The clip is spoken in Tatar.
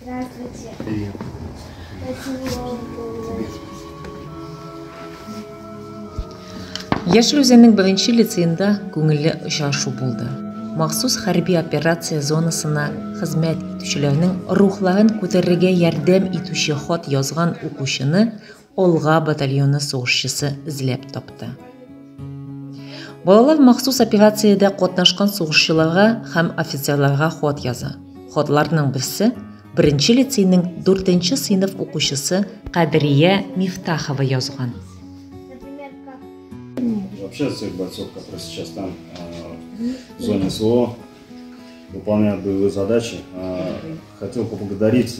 Здравствуйте. Привет. Яшел үзәннең беренче лицеенда күңелле очрашу булды. Махсус хәрби операция зонасына хезмәт итүчеләрнең рухларын күтәрергә ярдәм итүче хат язган укучыны Олга батальоны сугышчысы эзләп тапты. Балалар махсус операциядә катнашкан сугышчыларга һәм офицерларга хат яза. Хатларның берсе беренче лицейның 4 сыйныф укучысы Кадрия Мифтахова язган. Вообще всех бойцов, которые сейчас там в зоне СВО выполняют боевые задачи, хотел поблагодарить